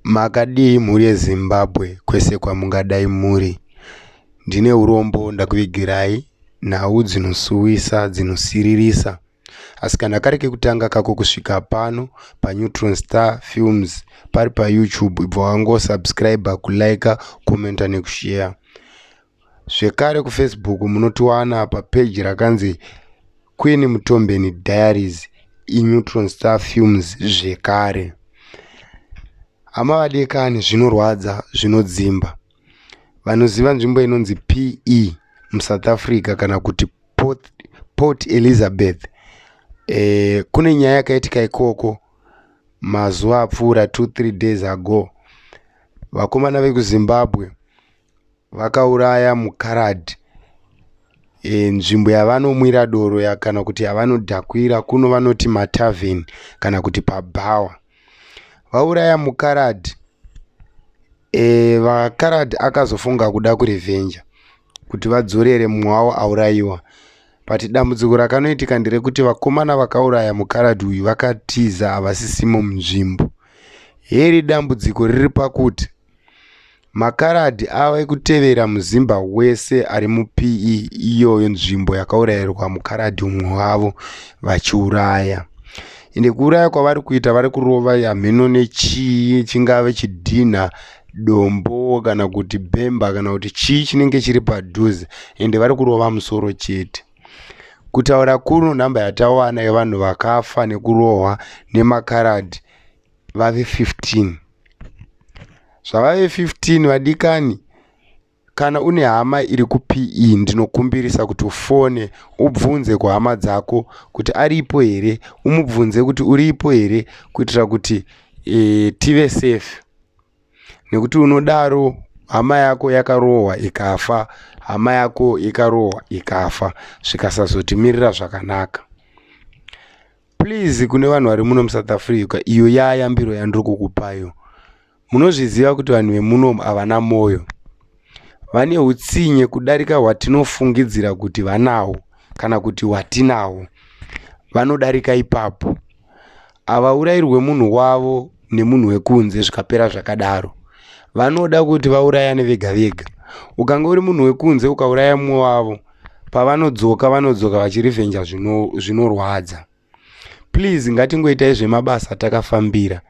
Makadii mhuri yeZimbabwe kwese kwamungadai muri? Ndine urombo ndakuvigirai nhau dzinosuwisa, dzinosiririsa. asi kana kari kekutanga kako kusvika pano paneutron star films pari payoutube ibva wangosubscribe kulike commenta nekushare zvekare kufacebook munotiwana papeji rakanzi queen mutombeni diaries ineutron star films zvekare hama vadekani zvinorwadza zvinodzimba vanoziva nzvimbo inonzi pe musouth africa kana kuti port, port elizabeth e, kune nyaya yakaitika ikoko mazuva apfuura 23 days ago vakomana vekuzimbabwe vakauraya mukaradhi e, nzvimbo yavanomwira doro ya, kana kuti yavanodhakwira kuno vanoti matavhen kana kuti pabhawa vauraya mukaradhi e, eh, vakaradhi akazofunga kuda kurevenja kuti vadzorere mumwe wavo aurayiwa but dambudziko rakanoitika nderekuti vakomana vakauraya mukaradhi uyu vakatiza havasisimo munzvimbo heri dambudziko riri pakuti Makaradhi ave kutevera muZimba wese ari muPE iyoyo nzvimbo yakaurayirwa mukaradhi umwe wavo vachiuraya. Ende kuuraya kwavari kuita vari kurova hamheno nechii chingave chidhinha dombo kana kuti bhemba kana kuti chii chinenge chiri padhuze ende vari kurova musoro chete. Kutaura kuno nhamba yatawana yevanhu vakafa nekurohwa nemakaradhi vave 15 zvavave 15 vadikani kana une hama iri kupe ndinokumbirisa kuti ufone ubvunze kuhama dzako kuti aripo here umubvunze kuti uripo here kuitira kuti e, tive safe nekuti unodaro hama yako yakarohwa ikafa hama yako ikarohwa ikafa zvikasazotimirira zvakanaka please kune vanhu vari muno musouth africa iyo yayambiro yandiri kukupayo munozviziva kuti vanhu vemuno havana mwoyo vane utsinye kudarika hwatinofungidzira kuti vanawo kana kuti hwatinawo vanodarika ipapo havaurayirwe munhu wavo nemunhu wekunze zvikapera zvakadaro vanoda kuti vaurayane vega vega ukange uri munhu wekunze ukauraya mumwe wavo pavanodzoka vanodzoka vachirivenja zvinorwadza zvino please ngatingoitai zvemabasa takafambira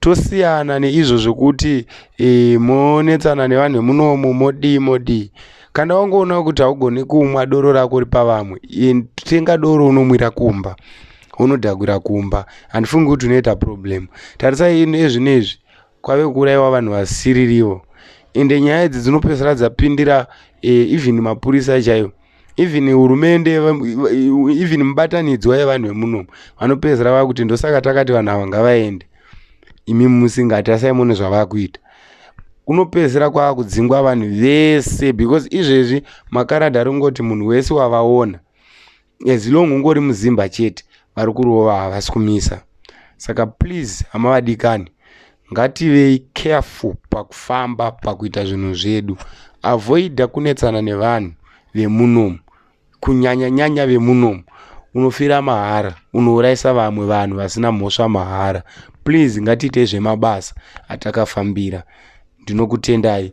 tosiyana neizvo zvekuti e, monetsana nevanhu vemunomu modii modii kana wangoona kuti haugone kumwa doro rako ri pavamwe e, tenga doro unomwira kumba unodhagwira kumba handifungi kuti unoita problem tarisai ino ezvino izvi kwave kuuraiwa vanhu vasiririvo ende nyaya idzi dzinopedzisira dzapindira eh, even mapurisa chaiwo even hurumende even mubatanidzwa yevanhu vemunomu vanopedzisira vava kuti ndosaka takati vanhu ava ngavaende imi musingati asai mune zvavava kuita kunopedzisira kwava kudzingwa vanhu vese because izvezvi makarada ringoti munhu wese wavaona as long ungori muzimba chete vari kurova havasi kumisa saka please hama vadikani ngativei careful pakufamba pakuita zvinhu zvedu avoida kunetsana nevanhu vemunomu kunyanya nyanya vemunomu unofira mahara unourayisa vamwe vanhu vasina mhosva mahara please ngatiitei zvemabasa atakafambira ndinokutendai